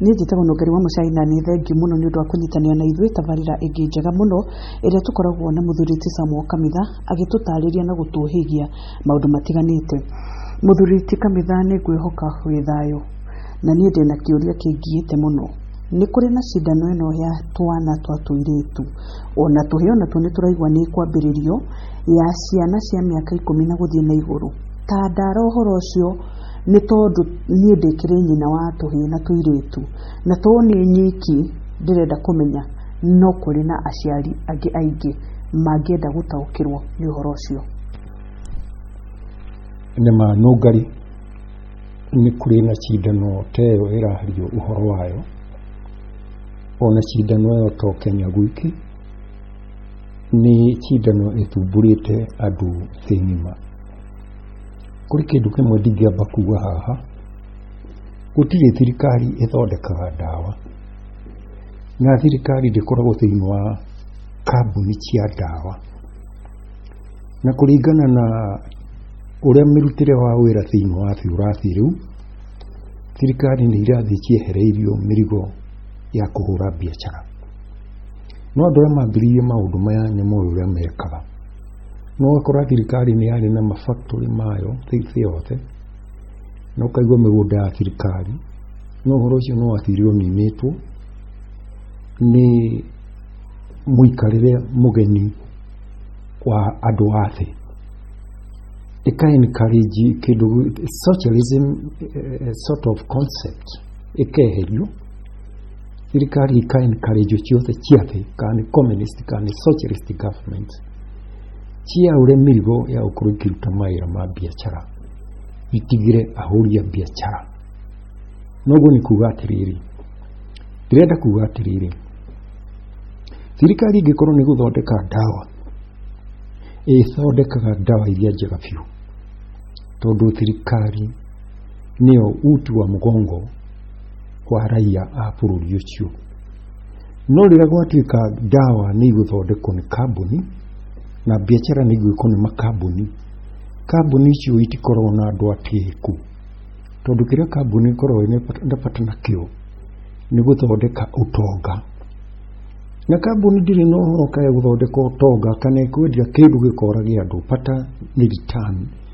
niĩ njĩtagwo nũngari wa mũcai na nĩ thengiũ mũno nĩ ũndũ wa kũnyitanĩra na ithuĩ tabarĩra ĩngĩ njega mũno ĩrĩa tũkoragwo na mũthuri ti samuo kamitha agĩtũtarĩria na gũtũhĩgia maũndũ matiganĩte mũthuri ti kamitha nĩ ngwĩhoka wĩ thayũ na niĩ ndĩ na kĩũria kĩngiĩte mũno nĩ kũrĩ na cindano ĩno ya twana twa tũirĩtu ona tũhĩĩ ona tuo nĩ tũraigua nĩ kwambĩrĩrio ya ciana cia mĩaka ikũmi na gũthiĩ na igũrũ Tandara ũhoro ũcio nĩ tondũ niĩ ndĩkĩrĩ nyina wa tũhĩĩ na tũirĩtu na to niĩ nyiki ndĩrenda kũmenya no kũrĩ na aciari angĩ aingĩ mangĩenda gũtaũkĩrwo nĩ ũhoro ũcio. Nĩ ma nũngari nĩ kũrĩ na cindano ta ĩyo ĩrario ũhoro wayo, ona cindano ĩyo to Kenya gwiki, nĩ cindano ĩthumbũrĩte andũ thĩ ng'ima. kũrĩ kĩndũ kĩmwe ndingĩamba kuga haha gũtirĩ thirikari ĩthondekaga ndawa na thirikari ndĩkoragwo thĩinĩ wa kambuni cia ndawa na kũringana na ũrĩa mĩrutĩre wa wĩra thĩinĩ wa biũrathi rĩu thirikari nĩ irathiĩ ciehereirio mĩrigo ya kũhũra biacara no andũ arĩa mambĩrĩirie maũndũ maya nĩ moĩ ũrĩa mekaga no ũgakora thirikari nĩ yarĩ na mafactory mayo thĩ yothe na ũkaigua mĩgũnda ya thirikari no ũhoro ũcio no wathirirwo ninĩtwo nĩ mũikarĩre mũgeni wa andũ a thĩ ĩka encourage kĩndũ socialism eh, eh, sort of concept ĩkeherio Thirikari ikae encourage ciothe cia thĩ kana nĩ communist kana nĩ socialist government ciaure mĩrigo ya gũkorwo ikĩruta mawĩra ma biacara itigire ahũri a biacara noguo nĩ kuga atĩrĩrĩ ndĩrenda kuga atĩrĩrĩ thirikari ĩngĩkorwo nĩ gũthondeka ndawa ĩthondekaga ndawa iria njega biũ tondũ thirikari nĩyo uti wa mũgongo wa raiya a bũrũri ũcio no rĩrĩa gwatuĩka ndawa nĩ igũthondekwo nĩ kambuni na biacara nĩ igwĩkwo nĩ makambuni kambuni icio itikoragwo na andũ atĩĩku tondũ kĩrĩa kambuni ikoragwo na bata nakĩo nĩ gũthondeka ũtonga na kambuni ndĩrĩ na ũhoro kaĩ gũthondeka ũtonga kana ĩkwendia kĩndũ gĩkora gĩa andũ bata nĩ return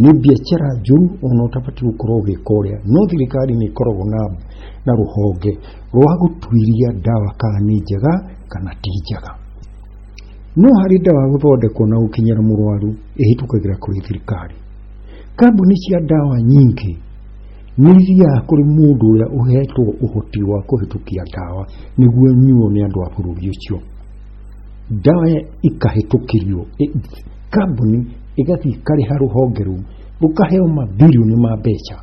nĩ biacara njũru ona ũtabatiĩ gũkorwo ũgĩka ũrĩa no thirikari nĩ ĩkoragwo na na rũhonge rwa gũtuĩria ndawa kana nĩ njega kana ti njega no harĩ ndawa gũthondekwo na gũkinyĩra mũrwaru ĩhĩtũkagĩra kũrĩ thirikari kambuni cia ndawa nyingĩ nĩ ithiaga kũrĩ mũndũ ũrĩa ũhetwo ũhoti wa kũhĩtũkia ndawa nĩguo nyuo nĩ andũ a bũrũri ũcio ndawa ikahĩtũkĩrio kambuni ĩgathiĩ ĩkarĩha rũhonge rũu rũkaheo mabirioni ma mbeca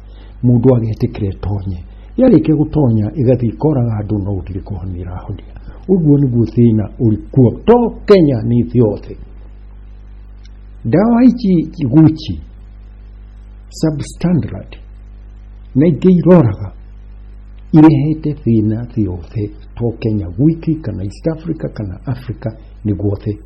mũndũ agetĩkĩra ĩtonye yarĩkia gũtonya ĩgathiĩ ĩkoraga andũ no gũtirĩ kũhonia ĩrahonia ũguo nĩguo thĩna ũrĩ kuo to kenya nĩ thĩ yothe ndawa ici gucci substandard na ingĩ iroraga irehete thĩna thĩ yothe to kenya gwiki kana east africa kana africa nĩ guothe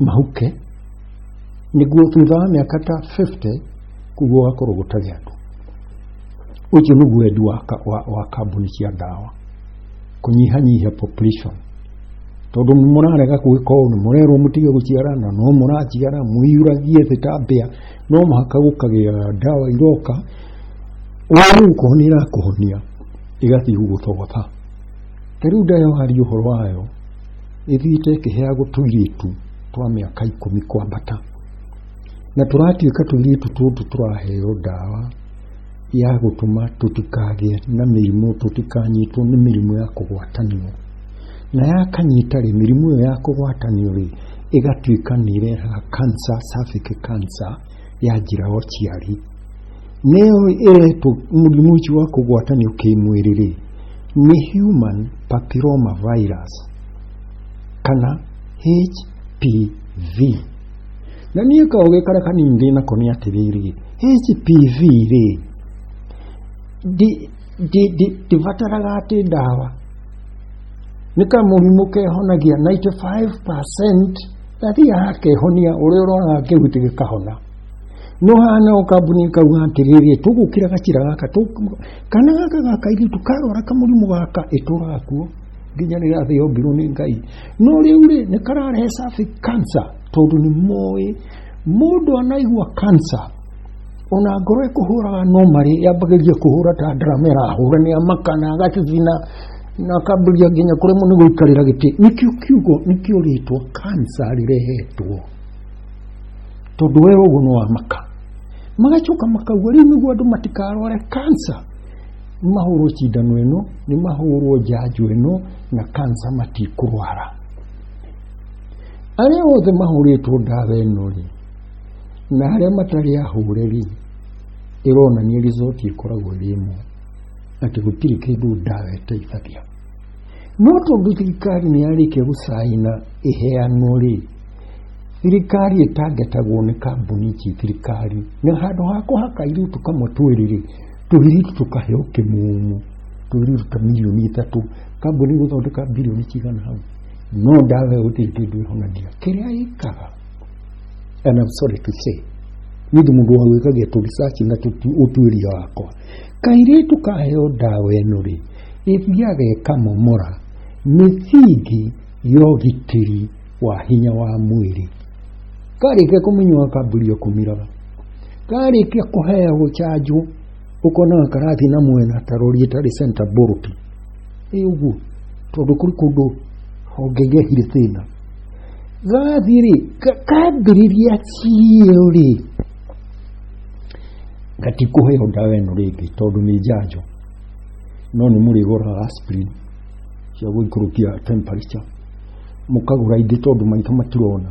mahuke nĩguo thutha wa mĩaka ta 50 kuguo gakorwo gũtarĩ andũ ũcio nĩguo wendi wa, ka- wa, wa kambuni cia ndawa kũnyihanyihia population tondũ nĩ mũrarega gwĩka ũũ nĩ mũrerwo mũtige gũciara na no mũraciara mũiyũragie thĩ ta mbĩa no mũhaka gũkagĩa ndawa iroka ũũ ũkona irakũhonia ĩgathiĩ gũgũthogotha ta rĩu ndawa waria ũhoro wayo ĩthiĩte ĩkĩheagwo tũirĩtu twa mĩaka ikũmi kwambata na tũratuĩka tũirĩtu tũtũ tũraheo ndawa ya gũtũma tũtikagĩe na mĩrimũ tũtikanyitwo nĩ mĩrimũ ya kũgwatanio na yakanyita rĩ mĩrimũ ĩyo ya kũgwatanio rĩ ĩgatuĩka nĩ irehaga cancer, cervical cancer ya njĩra ya ũciari nĩyo ĩretwo mũrimũ ũcio wa kũgwatanio kĩmwĩrĩ rĩ nĩ human papilloma virus kana HPV na niĩ kaũgĩ karĩa kanini ndĩ nako nĩ atĩrĩrĩ HPV rĩ ndi- ndi- ndi- ndibataraga atĩ ndawa nĩ kamũrimũ kehonagia 95% Athiaga akehonia ũrĩa ũroraga kĩhuti gĩkahona no hana o kambuni kauga atĩrĩrĩ tũgũkĩra gacira gaka tũ- kana gaka ga kairĩtu karwara kamũrimũ gaka ĩtũraga kuo nginya rĩrĩa thĩ yombirwo nĩ ngai no rĩu rĩ nĩ kararehe sabi kansa tondũ nĩ moĩ mũndũ anaigua kansa ona ngoro ĩkũhũraga no marĩ yambagĩrĩria kũhũra ta ndarama ĩrahũra nĩ amaka na agacicina na akambĩrĩria nginya kũremwo nĩ gũikarĩra gĩtĩ nĩkĩo kiugo nĩkĩo rĩtwa kansa rĩrehetwo tondũ we ũguo nĩ wamaka magacoka makauga rĩu nĩguo andũ matikarware kansa nĩ mahũrwo cindano ĩno nĩ mahũrwo njanjo ĩno na kansa matikũrwara arĩa othe mahũrĩtwo ndawa ĩno rĩ na arĩa matarĩ ahũrĩri ĩronania rizoti ĩkoragwo ĩrĩ ĩmwe atĩ gũtirĩ kĩndũ ndawa ĩteithagia no tondũ thirikari nĩ yarĩkia gũcaina ĩheanwo rĩ thirikari ĩtangetagwo nĩ kambuni ici thirikari na handũ ha kũhaka iritu kamwe twĩrĩ rĩ tũhiritu tũkaheo kĩmumu tũhiritu ta milioni ithatũ kambuni gũthondeka bilioni cigana hau no ndawa ĩyo gũtirĩ kĩndũ ĩhonagia kĩrĩa ĩkaga and I'm sorry to say nĩ ndĩ mũndũ wa gwĩka geto research na tũtu- ũtuĩria wakwa kairĩtu kaheo ndawa ĩno rĩ ĩthiaga ĩkamomora mĩthingi ya ũgitĩri wa hinya wa mwĩrĩ karĩkia kũmĩnyua kambĩrĩria kũmiraga karĩkia kũheagwo chanjo ũkonaga karathiĩ na mwena ta rori ĩtarĩ center bolt ĩ ũguo tondũ kũrĩ kũndũ honge gehire thĩna gafiri kafiri ria ciyo rĩ gatikũhe yo ndawa ĩno rĩngĩ tondũ nĩ njanjo no nĩ mũrĩgũraga aspirin cia gũikũrũkia temperature mũkagũra ingĩ tondũ maitho matirona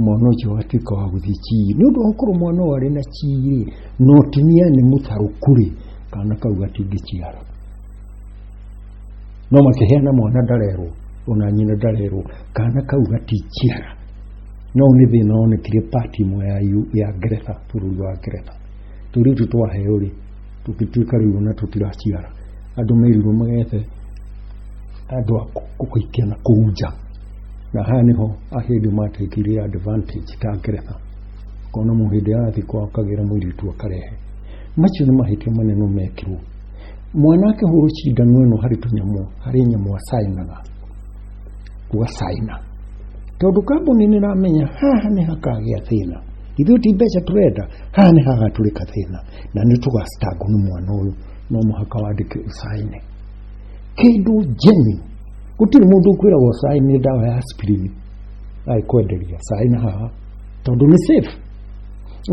mwana ũcio agatuĩka wa gũthiĩ chii nĩ ũndũ wa gũkorwo mwana ũyũ arĩ na chii rĩ no timia nĩ mũtarũku rĩ kana kau gatingĩciara no makĩheana mwana ndarerwo ona nyina ndarerwo kana kau gatikiara no nĩ thĩna wonekire pati imwe ya, U- ya ngeretha bũrũri wa ngeretha tũrĩu tũ twaheo rĩ tũgĩtuĩka rĩu ona tũtiraciara andũ merirwo magethe andũ a kũ- kũgaikia na kũu nja na haha nĩho ahĩndĩ matekirie advantage ta ngeretha kona mũhĩndĩ arathiĩ kwao akagĩra mũirĩtu akarehe macio nĩ mahĩtia manene mekirwo mwanake huru cindano ĩno harĩ tũnyamũ harĩ nyamũ acainaga gũgacaina tondũ kambuni nĩ ramenya haha nĩ hakagĩa thĩna ithuĩ ti mbeca tũrenda haha nĩ hagatũrĩka thĩna na nĩ tũgacitangwo nĩ mwana ũyũ no mũhaka wandĩke ũcaine kĩndũ njeni gũtirĩ mũndũ ũkwĩragwo ũcaine ndawa ya aspirin aikwenderia caina haha tondũ nĩ safe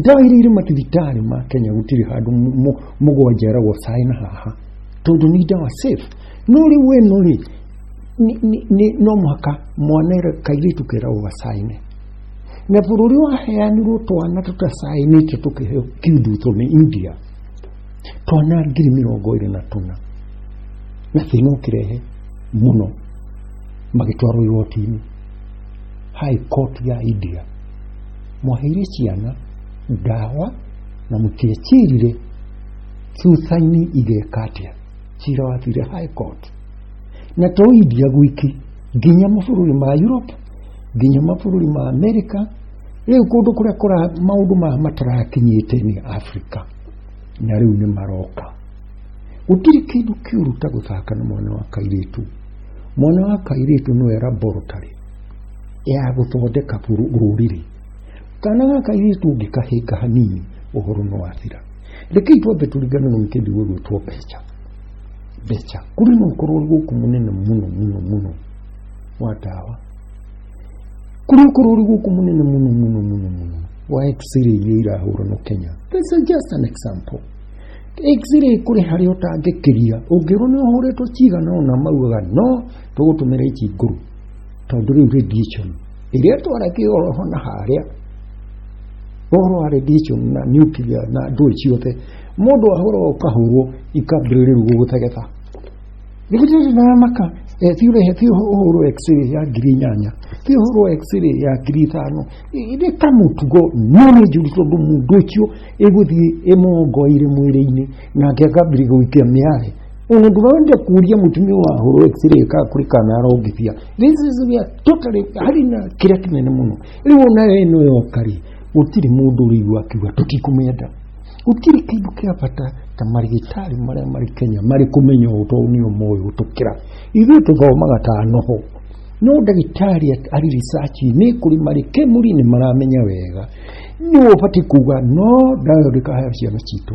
ndawa iria irĩ mathibitarĩ ma kenya gũtirĩ handũ mũ- mũ- mũgwanja eragwo cai na haha tondũ nĩ ndawa safe no rĩu weno rĩ nĩ- nĩ- nĩ- no mũhaka mwana ere- kairĩtu keragwo gacaine na bũrũri waheanirwo twana tũtacainĩte tũkĩheo kiuduto nĩ india twana ngiri mĩrongo ĩrĩ na tũna na thĩna ũkĩrehe mũno magĩtwarwo igoti-inĩ high court ya india mwaheire ciana ndawa na mũtiecirire thutha-inĩ igeka atĩa cira wathire high court na to india gwiki nginya mabũrũri ma europe nginya mabũrũri ma america rĩu kũndũ kũrĩa kũra maũndũ maya matarakinyĩte nĩ africa na rĩu nĩ maroka gũtirĩ kĩndũ kĩũru ta gũthaka na mwana wa kairĩtu mwana wa kairĩtu nĩwe laboratory ya gũthondeka rũrĩrĩ kana gaka iritu ũngĩkahĩnga hanini ũhoro no athira rekei twambe tũringane na wikendi gwĩgwĩtwo mbeca mbeca kũrĩ na ũkorwo gũkũ mũnene mũno mũno mũno wa ndawa kũrĩ ũkorwo ũrĩ gũkũ mũnene mũno mũno mũno mũno wa x-ray iria irahũra no kenya this is just an example x-ray kũrĩ harĩa ũtangĩkĩria ũngĩrwo nĩ ũhũrĩtwo cigana ũna maugaga no tũgũtũmĩra ici ngũrũ tondå rä u radiation ä rä a twarekä oro ho na harä a ũhoro wa radiation na nuclear na ndũĩ ciothe mũndũ ahũrwo ũkahũrwo ikambĩrĩrĩru gũgũtegeta nĩgũtĩrĩ na maka ti ũrehe ti ũhũrwo x-ray ya ngiri inyanya ti ũhũrwo x-ray ya ngiri ithano nĩ kamũtugo no nĩ njũru tondũ mũndũ ũcio ĩgũthiĩ ĩmongoire mwĩrĩ-inĩ nake akambĩrĩria gũikia mĩarĩ unaguma wende kuuria mutumia wa horo x-ray ka kuri kana arongithia this is we are totally hari na kira kinene muno riu ona we no yokari gutiri mundu riigua akiuga tutikumenda gutiri kindu kia bata ta marigitari maria mari Kenya mari kumenya utoni umoyo gutukira ithuĩ tuthomaga ta noho no ndagĩtarĩ ari research nĩ kũrĩ marĩ kemuri nĩ maramenya wega nĩ ũbatiĩ kuga no ndayo ndĩkahaya ciana citũ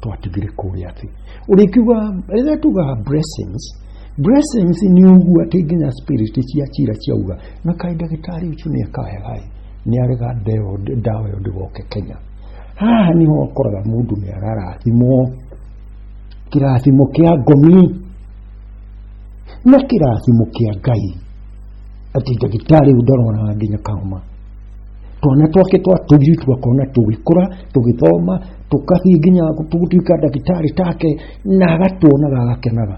twatugire kũrĩa atĩ ũrĩkiuga rĩrĩa tugaga blessings blessings nĩ ũguo atĩ nginya spirit cia cira ciauga na kaĩ ndagĩtarĩ ũcio nĩ akahegaĩ nĩ arega ndeo- ndawa ĩyo ndĩgoke kenya haha nĩho ũkoraga mũndũ nĩ ararathimwo kĩrathimo kĩa ngomi na kĩrathimo kĩa ngai atĩ ndagĩtarĩ ũyũ ndarona nginya kahoma twana twake twa tũthiĩ tũgakona tũgĩkũra tũgĩthoma tũgathiĩ nginya tũgũtuĩka ndagĩtarĩ take na agatuonaga agakenaga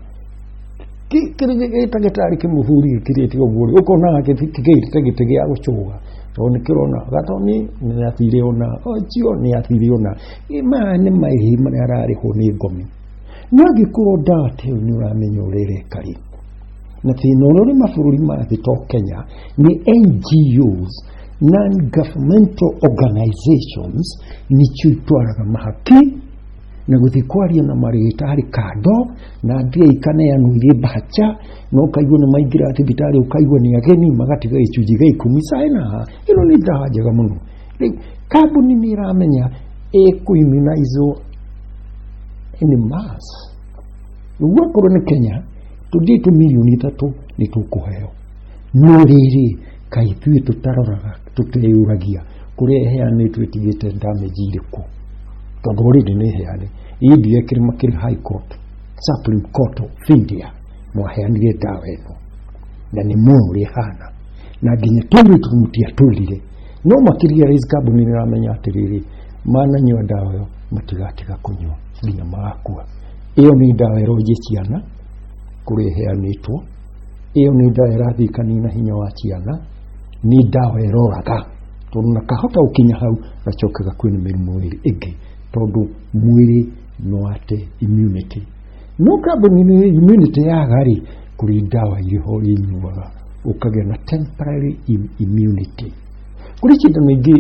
gĩtagĩtarĩ kĩmũhuri kĩrĩte ũguo rĩ ũkona gĩtigĩte gĩtĩ gĩa gũcũga tondũ nĩ kĩrona gatoni nĩ athire ona cio nĩ athire ona maya nĩ maihi marĩa ararĩhwo nĩ ngomi no angĩkorwo ndate nĩ ũramenya ũrereka rĩ na thĩna ũrĩa ũrĩ mabũrũri ma thĩ to kenya nĩ ngos non governmental organizations nĩcio itwaraga mahaki na gũthiĩ kwaria na marĩgĩta harĩ kando na mbia ikaneanwo irĩ mbaca na ũkaigua nĩ maingĩra thibitarĩ ũkaigua nĩ ageni magatiga gĩcunjĩ gĩa ikũmi caina ĩno nĩ ndawa njega mũno rĩu kambuni nĩ ĩramenya ĩkũiminaizwo nĩ mas ũguo akorwo nĩ kenya tũthiĩ tũmirioni ithatũ nĩ tũkũheo no rĩrĩ kaĩ ithuĩ tũtaroraga tũteyũragia kũrĩa ĩheanĩtwo ĩtigĩte damage irĩkũ tondũ already nĩ ĩheane indi ekĩrĩ makĩrĩ high court supreme court of india mwaheanire ndawa ĩno na nĩ muoyo ũrĩa ĩhana na nginya tũrĩ tũmutia tũrire no makĩria rais kambuni nĩramenya atĩrĩrĩ mananyua ndawa ĩyo matigatiga kũnyua nginya magakua ĩyo nĩ ndawa ĩronjia ciana kũrĩa ĩheanĩtwo ĩyo nĩ ndawa ĩrathiĩ kanina hinya wa ciana nĩ ndawa ĩroraga tondũ na kahota gũkinya hau gacoke gakuĩ nĩ mĩrimũ ĩrĩ ĩngĩ tondũ mwĩrĩ nĩ wate immunity no kambuni nĩ immunity yaga rĩ kũrĩ ndawa irĩ ho inyuaga ũkagĩa na temporary im- immunity kuri kindu ningĩ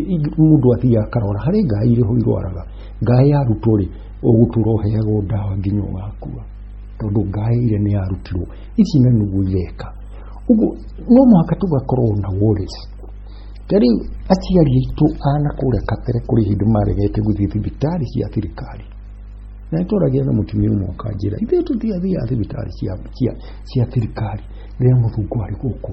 mũndũ athiaga akarora harĩ ngai irĩ ho irwaraga ngai yarutwo rĩ ũgũtũra ũheagwo ndawa nginya ũgakua tondũ ngai ire nĩ yarutirwo ici na nũguo ireka ũguo no mũhaka tũgakorwo na worries ta rĩu aciari aitũ ana kũrĩa kabere kũrĩ hĩndĩ maregete gũthiĩ thibitarĩ cia thirikari na nĩtwaragĩa na mũtumia ũmwe ũkanjĩra ithuĩ tũthiathiaga thibitarĩ cia- cia- cia thirikari rĩrĩa mũthungu arĩ gũkũ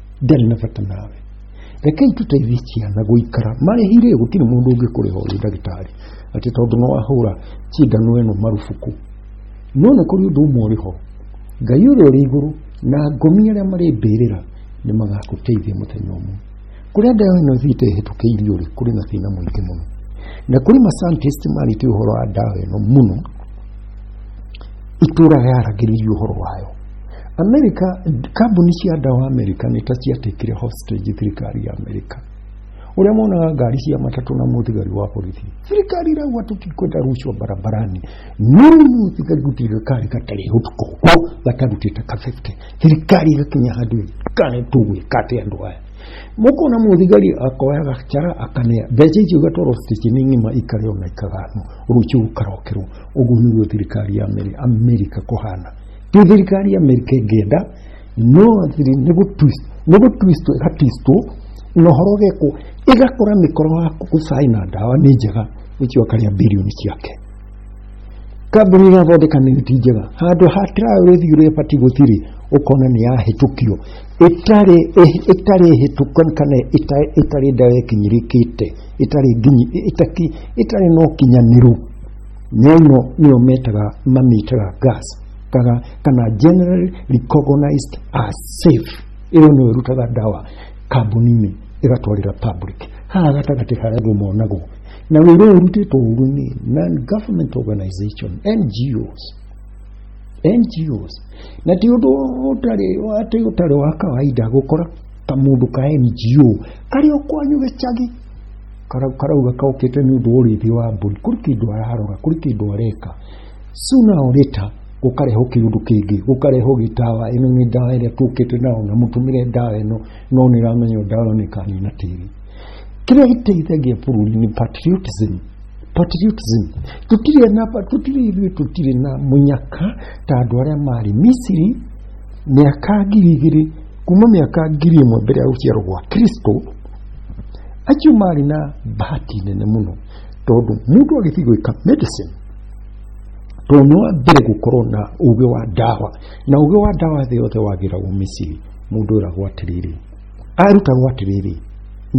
ndarĩ na bata nawe rekei tũteithie ciana gũikara marĩhi rĩ gũtirĩ mũndũ ũngĩkũrĩha ũrĩ ndagĩtarĩ atĩ tondũ no ahũra cindano ĩno marubuku no nĩ kũrĩ ũndũ ũmwe ũrĩ ho ngai ũrĩa ũrĩ igũrũ na ngomi arĩa marĩ mbĩrĩra nĩ magakũteithia mũthenya ũmwe kũrĩa ndawa ĩno ĩthiĩte ĩhĩtũkĩirio rĩ kũrĩ na thĩna mũingĩ mũno na kũrĩ mascientist marĩtie ũhoro wa ndawa ĩno mũno itũra yaragĩrĩria ũhoro wayo Amerika, kambuni cia ndawa Amerika nĩ ta ciatĩkire hostage thirikari ya Amerika uria monaga ngari cia matatu na muthigari wa borithi thirikari irauga tutikwenda rucwa barabarani no muthigari gutirikari gatari utuko ko gatarutite ka 50 thirikari igakinya handu kane tugwika ati andu aya mukona muthigari akoya gacara akanea mbeca icio igatwarwo station ng'ima ikarĩo na ikagano rucio ukarokerwo uguo niguo thirikari ya Amerika kuhana ti thirikari ya Amerika ĩngĩenda no thiri nĩ gũtwist nĩ gũtwistwo ĩgatwistwo na ũhoro ũgekwo ĩgakora mĩkoro ya gũcai na ndawa nĩ njega ũcio akarĩa bilioni ciake kambuni ĩgathondeka nĩ ti njega handũ ha tirayo rĩthiĩ ũrĩa ĩbatiĩ gũtirĩ ũkona nĩ yahĩtũkio ĩtarĩ ĩ- ĩtarĩ hĩtũku kana ĩta- ĩtarĩ ndawa ĩkinyĩrĩkĩte ĩtarĩ nginyi ĩtaki- ĩtarĩ na ũkinyanĩru Nyaino nĩo metaga mamĩtaga gas kaga kana generally recognized as safe ĩyo nĩyo ĩrutaga ndawa kambuni-inĩ ĩgatwarĩra public haha gatagatĩ harĩa andũ monagwo na wĩra ũyũ ũrutĩtwo ũru nĩ non government organization NGOs NGOs na ti ũndũ ũtarĩ atĩ ũtarĩ wa kawaida gũkora kamũndũ ka NGO karĩ o kwanyu gĩcagi karauga kaũkĩte nĩ ũndũ wa ũrĩithi wa mbũri kũrĩ kĩndũ ararora kũrĩ kĩndũ areka sooner or later gũkarehwo kĩũndũ kĩngĩ gũkarehwo gĩtawa ĩno nĩ ndawa ĩrĩa tũkĩte nayo na mũtũmĩre ndawa ĩno no nĩ ramenyo ndawa ĩno ĩkanina tĩri kĩrĩa gĩteithagia bũrũri nĩ patriotism patriotism tũtirĩ na tũtirĩ ithuĩ tũtirĩ na mũnyaka ta andũ arĩa marĩ misiri mĩaka ngiri igĩrĩ kuma mĩaka ngiri ĩmwe mbere ya gũciarwo gwa kristo acio marĩ na bahati nene mũno tondũ mũndũ agĩthiĩ gwĩka medicine tondũ nĩ wa mbere gũkorwo na ũgĩ wa ndawa na ũgĩ wa ndawa thĩ yothe wagĩragwo misiri mũndũ ĩragwo atĩrĩrĩ arutagwo atĩrĩrĩ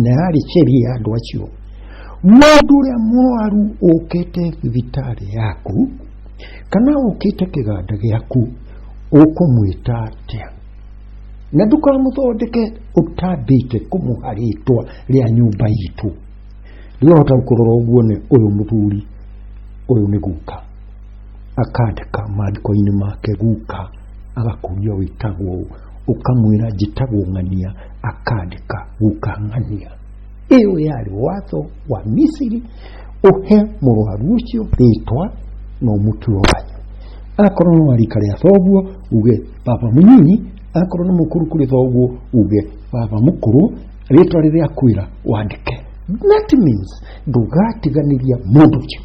na yarĩ sheria ya andũ acio mũndũ ũrĩa mũrwaru ũkĩte thibitarĩ yaku kana ũkĩte kĩganda gĩaku ũkũmwĩta atĩa na ndũkamũthondeke ũtambĩte kũmũha rĩtwa rĩa nyũmba itũ rĩu hota kũrora ũguo nĩ ũyũ mũthuri ũyũ nĩ guka akandĩka maandĩko-inĩ make guka agakũria wĩtagwo ũũ ũkamwĩra njĩtagwo ng'ania akandĩka guka ng'ania ĩyo yarĩ watho wa misiri ũhe mũrwaru ũcio rĩtwa na ũmũtue wanyu akorwo no arika rĩa thoguo uge baba mũnyinyi akorwo nĩ mũkũrũ kũrĩ thoguo uge baba mũkũrũ rĩtwa rĩrĩa kwĩra wandĩke that means ndũgatiganĩria mũndũ ũcio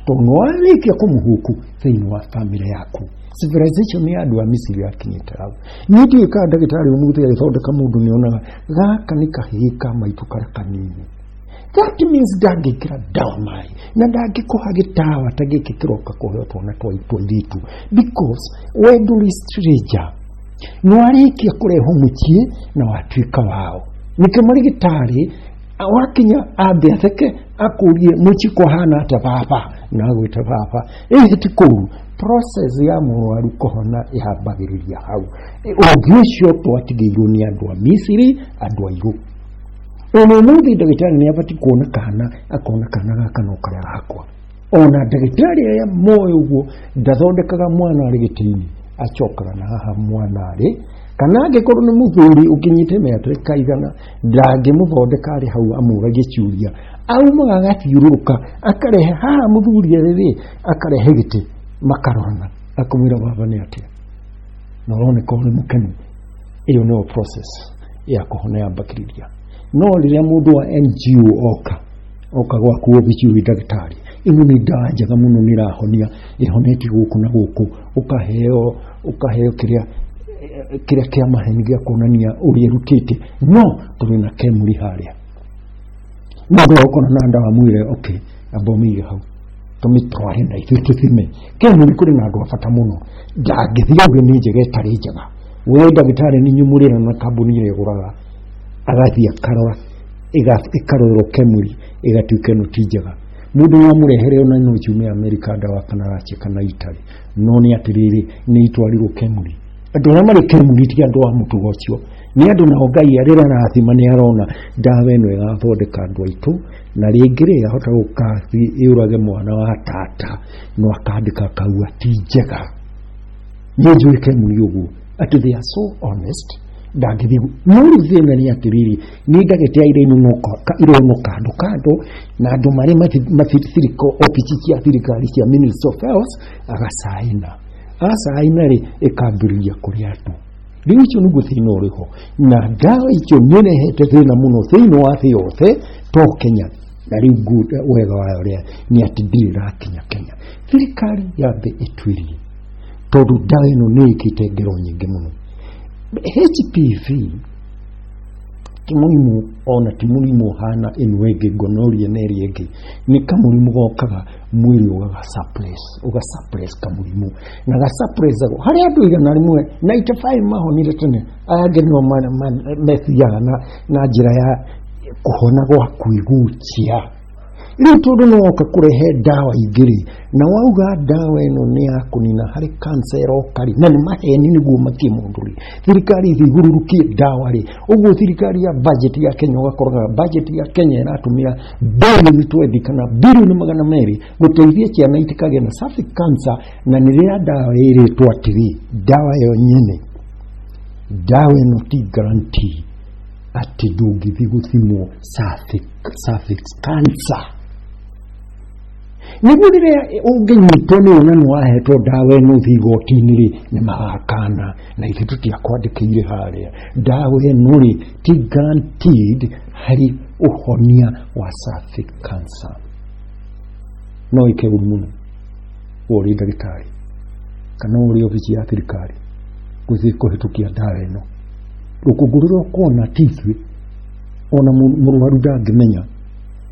tondũ nĩwarĩkia kũmũhũku thĩinĩ wa bamĩrĩ yaku civilization ya andũ a misiri yakinyĩte hau niĩ ndiũĩ kana ndagĩtarĩ ũmũthĩ agĩthondeka mũndũ nĩonaga gaka nĩ kahĩĩ ka maitũ karĩa kanini that means ndangĩkĩra ndawa maĩ na ndangĩkũha gĩtawa ta gĩkĩ kĩroka kũhe twana twa tũirĩtu because we ndũrĩ stranger nĩ warĩkia kũrehwo mũciĩ na watuĩka wao nĩkĩo marĩgĩtarĩ wakinya ambe atheke akũrie mũciĩ kũhana atĩa baba na agwĩte baba ĩhĩ ti kũu process ya mũrwaru kũhona ĩhambagĩrĩria hau ũngĩ ũcio twatigĩirwo nĩ andũ a misiri andũ airũ ona ũmũthĩ ndagĩtarĩ nĩ abatiĩ kuona kana akona kana gaka no karĩa gakwa ona ndagĩtarĩ arĩa moĩ ũguo ndathondekaga mwana arĩ gĩtĩ-inĩ acokaga na haha mwana arĩ kana angĩkorwo nĩ mũthuri ũkinyĩte mĩaka ĩkaigana ndangĩmũthondeka arĩ hau amũragie ciũria aumaga agathiũrũrũka akarehe haha mũthuri arĩ rĩ akarehe gĩtĩ makarorana akamwĩra baba nĩ atĩa na ũroneka ũrĩ mũkenu ĩyo nĩyo process ya kũhona ya bacteria no rĩrĩa mũndũ wa NGO oka oka gwaku obici wĩ ndagĩtarĩ ĩno nĩ ndawa njega mũno nĩ ĩrahonia ĩhoneti gũkũ na gũkũ ũkaheo ũkaheo kĩrĩa eh, kĩrĩa kĩa maheni gĩa kuonania ũrĩa ĩrutĩte no tũrĩ na kemuri harĩa mũndũ agũkorwo na ndawa mwĩre okay amba ũmĩige hau tũmĩtware na ithuĩ tũthime kenu nĩ kũrĩ na andũ a bata mũno ndangĩthiĩ auge nĩ njega ĩtarĩ njega we ndagĩtarĩ nĩ nyumũrĩra na kambuni ĩrĩa ĩgũraga agathiĩ akarora ĩga- ĩkarorerwo kemuri ĩgatuĩka ĩno ti njega mũndũ no amũrehere ona no ciume amerika ndawa kana racia kana itari no nĩ atĩrĩrĩ nĩ itwarirwo kemuri andũ arĩa marĩ kemuri ti andũ a mũtugo ũcio nĩ andũ nao ngai arĩa arathima nĩ arona ndawa ĩno ĩgathondeka andũ aitũ na rĩngĩ rĩ ahota gũka yũrage mwana wa tata no akandĩka akaua ti njega niĩ njũĩ kemuri ũguo atĩ they are so honest ndangĩthiĩ gu- no rĩu thĩna nĩ atĩrĩrĩ nĩ ndagĩte ya iroinũka iroinũ kando kando na andũ marĩ mathirikari obici cia thirikari cia ministry of health agacaina agacaina rĩ ĩkambĩrĩria kũrĩa andũ rĩu icio nĩguo thĩna ũrĩ ho na ndawa icio nĩ rehete thĩna mũno thĩinĩ wa thĩ yothe to kenya na rĩu good wega wayo rĩa nĩ atĩ ndirĩ rakinya kenya thirikari ya thĩ ĩtuĩrie tondũ ndawa ĩno nĩ ĩkĩte ngero nyingĩ mũno hpv ti mũrimũ ona ti mũrimũ ũhana ĩno ĩngĩ gonorrhea na ĩrĩa ĩngĩ nĩ kamũrimũ gokaga mwĩrĩ ũgagasapres ũgasapres kamũrimũ na gasapres ako harĩa andũ igana rĩmwe 95 mahonire tene aya angĩ nĩo ma- ma- methiaga na, na njĩra ya kũhona gwa kwĩgucia rĩu tondũ no woka kũrehe ndawa ingĩ rĩ na wauga ndawa ĩno nĩ ya kũnina harĩ kansa ĩroka rĩ na nĩ maheni nĩguo makie mũndũ rĩ thirikari ĩthigurũrũkie ndawa rĩ ũguo thirikari ya bajeti ya kenya ũgakoraga bajeti ya kenya ĩratũmĩra bilioni twendi kana bilioni magana merĩ gũteithia ciana itikagĩa na safi kansa na nĩ rĩrĩa ndawa ĩrĩtwo atĩrĩ ndawa ĩyo nyene ndawa ĩno ti garanti atĩ ndũngĩthiĩ gũthimwo safi- cervix cancer nĩguo rĩrĩa ũngĩnyitwo nĩ wona nĩ wahetwo ndawa ĩno ũthiĩ igoti-inĩ rĩ nĩ magakana na ithuĩ tũtiakwandĩkĩire harĩa ndawa ĩno rĩ ti guaranteed harĩ ũhonia wa cervic cancer no ĩke ũru mũno we ũrĩ ndagĩtarĩ kana we ũrĩ obici ya thirikari gũthiĩ kũhĩtũkia ndawa ĩno rũkũngũ rũrĩa ũkuona ti ithuĩ ona mũ- mũrwaru ndangĩmenya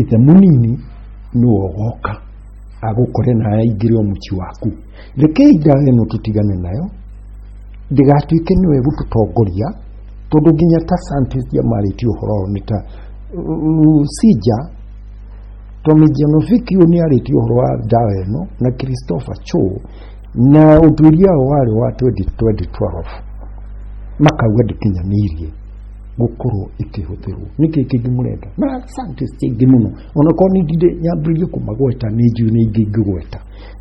ithe munini nĩwe ũgoka agũkore na aingĩre o mũciĩ waku rekei ndawa ĩno tũtigane nayo ndĩgatuĩke nĩwe ĩgũtũtongoria tondũ nginya ta scientist yamarĩtie ũhoro ũyũ nĩ ta rusija tomijanovikiu nĩ arĩtie ũhoro wa ndawa ĩno na christopher cho na ũtuĩria wao warĩ wa 2012 makauga ndĩkinyanĩirie gũkorwo ĩkĩhũthĩrwo nĩkĩ kĩngĩ mũrenda na scientist ingĩ mũno onakorwo nĩ ndindĩ nyambĩrĩrie kũmagweta nĩ njui nĩ ingĩ ingĩgweta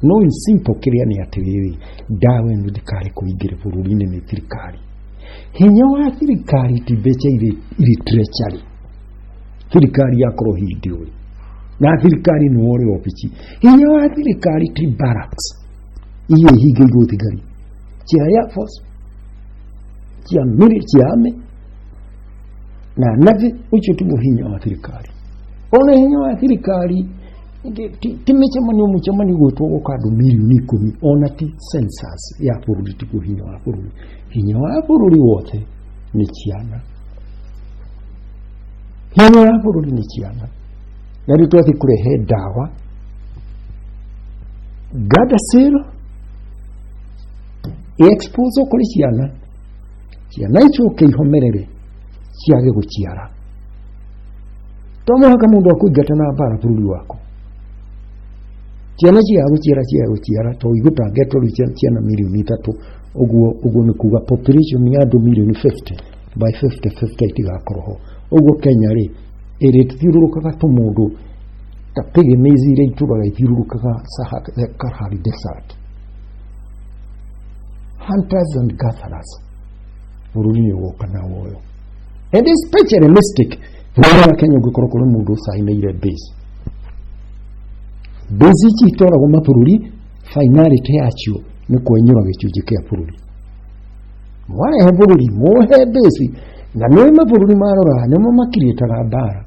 no in simple kĩrĩa nĩ atĩrĩrĩ ndawa ĩno ndikare kũingĩre bũrũri-inĩ nĩ thirikari hinya wa thirikari ti mbeca irĩ irĩ treasury thirikari yakorwo hĩndĩ ũyũ na thirikari nĩ wore obici hinya wa thirikari ti barracks iria ihingĩirwo thigari cia air force kiamiri kiame na nathi ucio tumo hinya wa thirikari ona hinya wa thirikari timĩcemanio mũcemanio gwĩtwo gũka andũ milioni ikũmi ona ti census ya bũrũri tiguo hinya wa bũrũri hinya wa bũrũri wothe nĩ ciana hinya wa bũrũri nĩ ciana na rĩu twathiĩ kũrehe ndawa gadasĩro exposed kuri ciana ciana icio ũkĩihomerere ciage gũciara to mũhaka mũndũ akũingata na mbara bũrũri waku ciana ciaga gũciara ciaga gũciara to igũtangetwo rĩu cia- ciana mirioni ithatũ ũguo ũguo nĩ kuga population ya andũ mirioni 50 by 50 50 itigakorwo ho ũguo kenya rĩ ĩrĩthiũrũrũkaga tũmũndũ ta pygmies iria itũraga ithiũrũrũkaga Sahara- Kalahari desert Hunters and gatherers bũrũri ũyũ woka na woyo and especially mystic bũrũri wa Kenya ũngĩkorwo kũrĩ mũndũ ũcainĩire base base ici itwaragwo mabũrũri finality yacio nĩ kwenyũra gĩcunjĩ kĩa bũrũri mwarehe bũrũri muhe base na nĩ mabũrũri marora nĩmo makirĩtaga mbara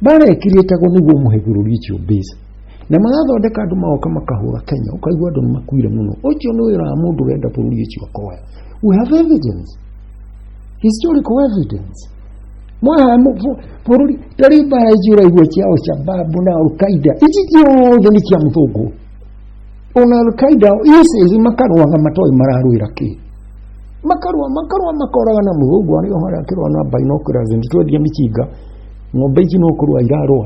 mbara ĩkirĩtagwo nĩguo mũhe bũrũri ũcio base na magathondeka andå magoka makahåra kenya ũkaigua andå nĩ makuire mũno ũcio nĩ wĩra wa mũndũ wenda bũrũri ũcio akoya we have evidence historical evidence mwaha bũrũri tarĩ mbara ici ũraigua cia alshababu na alkaida ici ciothe nĩ cia mũthũngũ ona alkaida isis makarwaga matoĩ mararwĩra kĩ makarwa makarwa makoraga na mũthũngũ arĩa harĩa akĩrwa na bainokura zinditwendia mĩcinga ng'ombe ici no kũrwa irarwa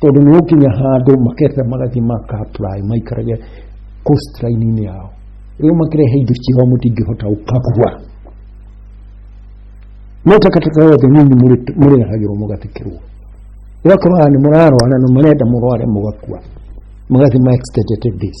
tondũ nĩ gũkinya handũ makete magathi maka apply maikarage coast line-inĩ yao rĩu makĩrehe indo ciao mũtingĩhota gũkagua no takataka yothe nyinyi mũrĩ- mũrĩrahagĩrwo mũgathikĩrwo ũgakorwo haha nĩ mũrarwara na marenda mũrware mũgakua magathi ma extended days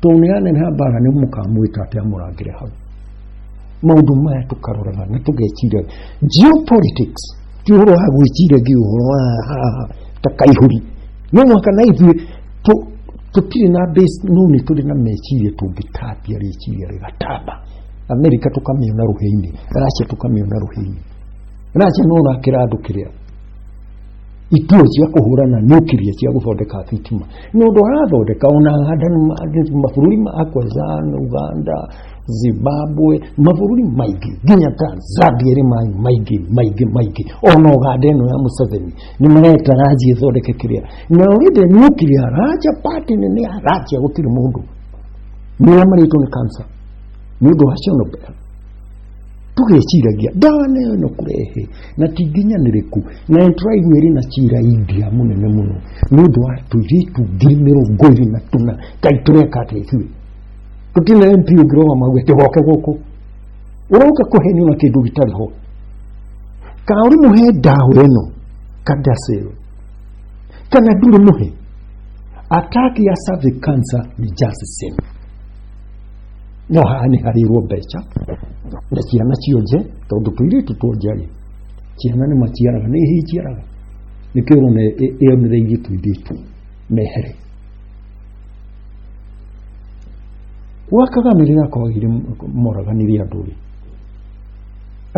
tondũ nĩ aneneha mbaara nĩ mũkamwĩta atĩ amũrangĩre hau maũndũ maya tũkaroraga na tũgeciria geopolitics ti ũhoro wa gwĩciria ngi ũhoro wa haha ta kaihũri no mwaka na ithuĩ tũ- tũtirĩ na base no nĩ tũrĩ na meciria tũngĩtambia rĩciria rĩgatamba amerika tũkamĩona rũhĩ-inĩ racia tũkamĩona rũhĩ-inĩ racia no ũrakĩra andũ kĩrĩa itio cia kũhũrana nuclear cia gũthondeka thitima nĩ ũndũ arathondeka ona mabũrũri ma Akwezan Uganda Zimbabwe mabũrũri maingĩ nginya Tanzania rĩ maĩ maingĩ maingĩ maingĩ ona Uganda ĩno ya Museveni nĩ mareta ranji ĩthondeke kĩrĩa na ũrĩde nuclear ranja party nene ya ranja gũtirĩ mũndũ nĩrĩa marĩtwo nĩ cancer nĩ ũndũ wa Chernobyl tũgĩciragia ndawa na ĩyo no kũrehe na ti nginyanĩrĩku na nĩ tũraigua ĩrĩ na cira india mũnene mũno nĩ ũndũ wa tũirĩtu ngiri mĩrongo ĩrĩ na tũna kaĩ tũreka atĩa ithuĩ tũtirĩ na mp ũngĩroga mague tĩgoke gũkũ ũroka kũhenio na kĩndũ gĩtarĩ ho kana ũrĩ mũhe ndawa ĩno kadasel kana ndũrĩ mũhe ataki ya cervic cancer ni just the same no haha nĩ harĩirwo mbeca na ciana cionje tondũ tũirĩtu tuonje-rĩ ciana nĩ maciaraga nĩ ihi iciaraga nĩkĩo ũrona ĩ- ĩ- ĩyo nĩ raithi tũirĩtu mehere gwa kagame rĩrĩa kwagire moragani rĩa andũ rĩ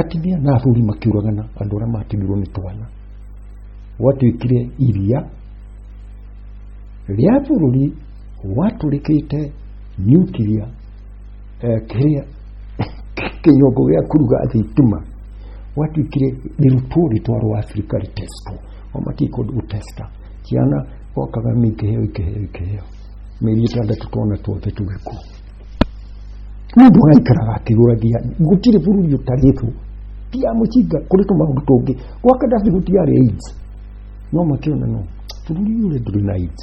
atumia na athuri makiũragana andũ arĩa matumirwo nĩ twana gwatuĩkire iria rĩa bũrũri watũrĩkĩte nuclear eh, kĩrĩa kĩnyongo gĩa kuruga thitima watuĩkire rĩrutwo rĩtwarwo Afrika rĩtestwo o matikũ gũtesta ciana gwakaga mĩkĩheo ikĩheo ikĩheo mĩeri ĩtandatũ twana tuothe tũgĩkũ mũndũ araikaraga akĩgũragia gũtirĩ bũrũri ũtarĩtwo ti ya mũcinga kũrĩ tũmaũndũ tũngĩ gwa kadafi gũtiarĩ aids no makĩona no bũrũri ũyũ rĩ ndũrĩ na aids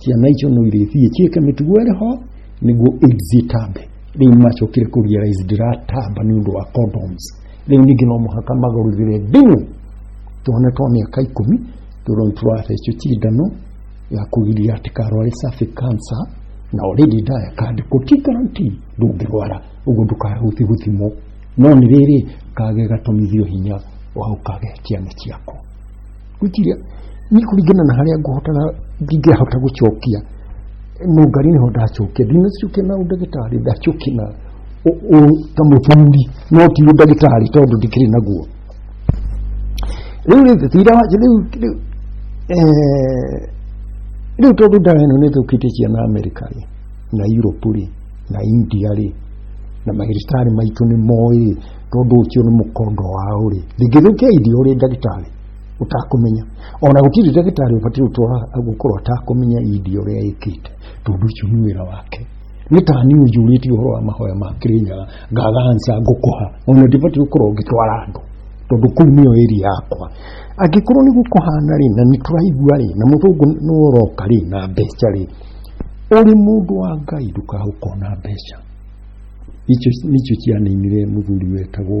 ciana icio no irĩthiĩ ciĩke mĩtugo ĩrĩ ho nĩguo AIDS ĩtambe rĩu macokire kũ realize ndĩratamba nĩ ũndũ wa condoms rĩu ningĩ no mũhaka magarũrĩre ndini tuone twa mĩaka ikũmi tũroni tũrathecwo cindano ya kũgiria atĩ karware cervic cancer na already ndaya kandĩkwo ti guarantee ndũngĩrwara ũguo ndũkahuthi gũthimwo no nĩ rĩrĩ kage gatomithio hinya wa ũkage ciana ciaku gwĩciria nĩ kũringana na harĩa ngũhotana ndingĩhota gũcokia no ngari nĩho ndacokia ndinacokia na ũndagĩtarĩ ndacokia na ũ- ũ- ta mũthuri no ti ũndagĩtarĩ tondũ ndikĩrĩ naguo rĩu rĩu thira wa rĩu rĩu eh, rĩu tondũ ndawa ĩno nĩ thũkĩtie ciana amerika rĩ na europe rĩ na india rĩ na magĩrĩtarĩ maitũ nĩ moĩ rĩ tondũ ũcio nĩ mũkondo wao rĩ ndingĩthũkia india ũrĩ ndagĩtarĩ ũtakũmenya ona gũtirĩ ndagĩtarĩ ũbatiĩ gũtwara gũkorwo atakũmenya idi ũrĩa ĩkĩte tondũ ũcio nĩ wĩra wake nĩ ta niĩ njurĩtie ũhoro wa mahoya ma kĩrĩnyaga ngaganca ngũkũha ona ndibatiĩ gũkorwo ngĩtwara andũ tondũ kũu nĩyo ĩri yakwa angĩkorwo nĩ gũkũhana rĩ na nĩ tũraigua rĩ na mũthũngũ nĩ ũroka rĩ na mbeca rĩ ũrĩ mũndũ wa ngai ndũkahũkona mbeca icio nĩcio cianinire mũthuri wetagwo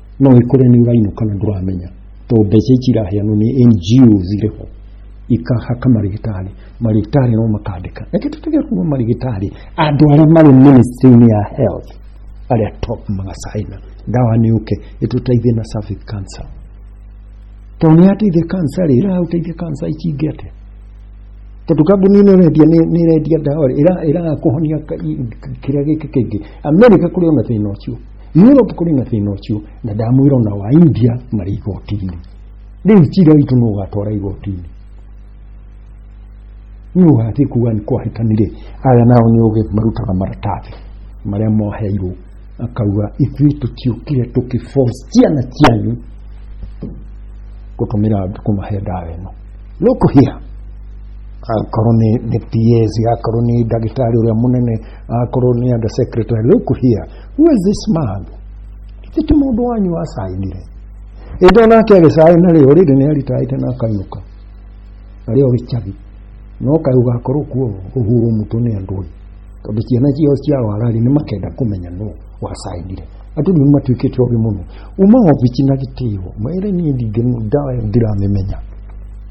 no ikore ni uraino kana nduramenya to mbeca ici iraheanwo nĩ NGOs irĩ ho ikahaka marigitari marigitari no makandika reke tutige kuma marigitari andũ arĩa marĩ ministry-inĩ ya health arĩa top magacaina ndawa nĩ ũke ĩtũteithie na cervic cancer to nĩ ateithia cancer rĩ ĩrahũteithia cancer ici ingĩ atĩa tondũ kambuni ĩno ĩrendia nĩ nĩ ĩrendia ndawa rĩ ĩra- ĩrakũhonia ka- i- kĩrĩa gĩkĩ kĩngĩ amerika kũrĩ ona thĩna ũcio Europe kũrĩ na thĩna ũcio na ndamwĩra ona wa India marĩ igoti-inĩ rĩu cira witũ nũ ũgatwara igoti-inĩ nũ ũgathiĩ kuga nĩ kwahĩtanire aya nao nĩ ũgĩ marutaga maratathi marĩa moheirwo akauga ithuĩ tũtiũkire tũkĩforce ciana cianyu gũtũmĩra kũmahe ndawa ĩno look here akorwo nĩ nĩ PS akorwo nĩ ndagĩtarĩ ũrĩa mũnene akorwo nĩ under secretary look here who is this man ithe ti mũndũ wanyu wacainire ĩndĩ onake agĩcaina rĩ ũrĩrĩ nĩ aritaĩte na akainũka arĩ o gĩcagi no kaĩ ũgakorwo kuo ũhurwo mũtũ nĩ andũ ĩ tondũ ciana ciao cia warari nĩ makenda kũmenya nũ wacainire andũ nĩ matuĩkĩte ogĩ mũno uma obici na gĩtĩo maĩre niĩ ndingĩnu ndawa ĩyo ndiramĩmenya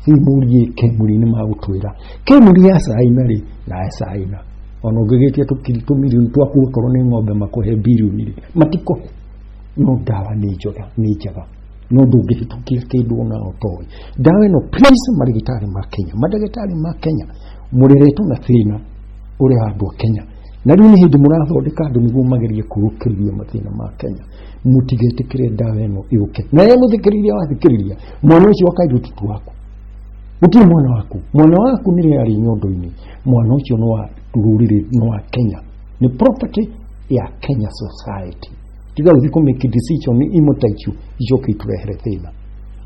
rĩu mũriĩ kemuri nĩ magũtwĩra kemuri yacaina rĩ na yacaina ona ũngĩgĩtia tũmirioni twaku okorwo nĩ ng'ombe makũhe birioni rĩ matikũhe no ndawa nĩ njega nĩ njega no ndũngĩhĩtũkia kĩndũ ona ũtoĩ ndawa ĩno please marĩgĩtarĩ ma kenya mandagĩtarĩ ma kenya mũreretwo na thĩna ũrĩa andũ a kenya na rĩu nĩ hĩndĩ mũrathondeka andũ nĩguo magerie kũrũkĩrĩria mathĩna ma kenya mũtigetĩkĩre ndawa ĩno yũke na ye mũthikĩrĩria wathikĩrĩria mwana ũcio akairĩtutu waku gũtirĩ mwana waku mwana waku nĩ rĩarĩ nyondo-inĩ mwana ucio nwa ruriri nwa kenya ni property ya kenya society tiga uthi ku make decision imutaichu icoke iturehere thina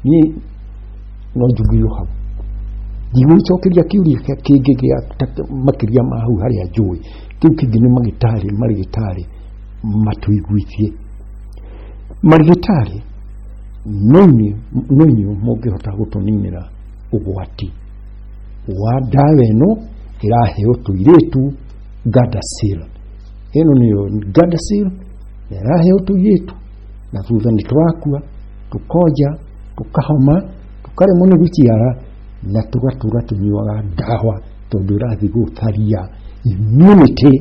ni no njugirwo hau ndigwicokeria kiuria kingi gia makiria ma hau haria njui kiu kingi ni magitari marigitari matuiguithie marigitari noinyu noinyu mungihota gutuninira ugwati wa ndawa ĩno ĩraheo tũirĩtu Gardasil ĩno nĩyo Gardasil na ĩraheo tũirĩtu na thutha nĩ tũrakua tũkonja tũkahoma tũkaremwo nĩ gũciara na tũgatũra tũnyuaga ndawa tondũ ĩrathiĩ gũtharia immunity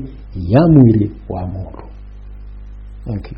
ya mwĩrĩ wa mũndũ thank you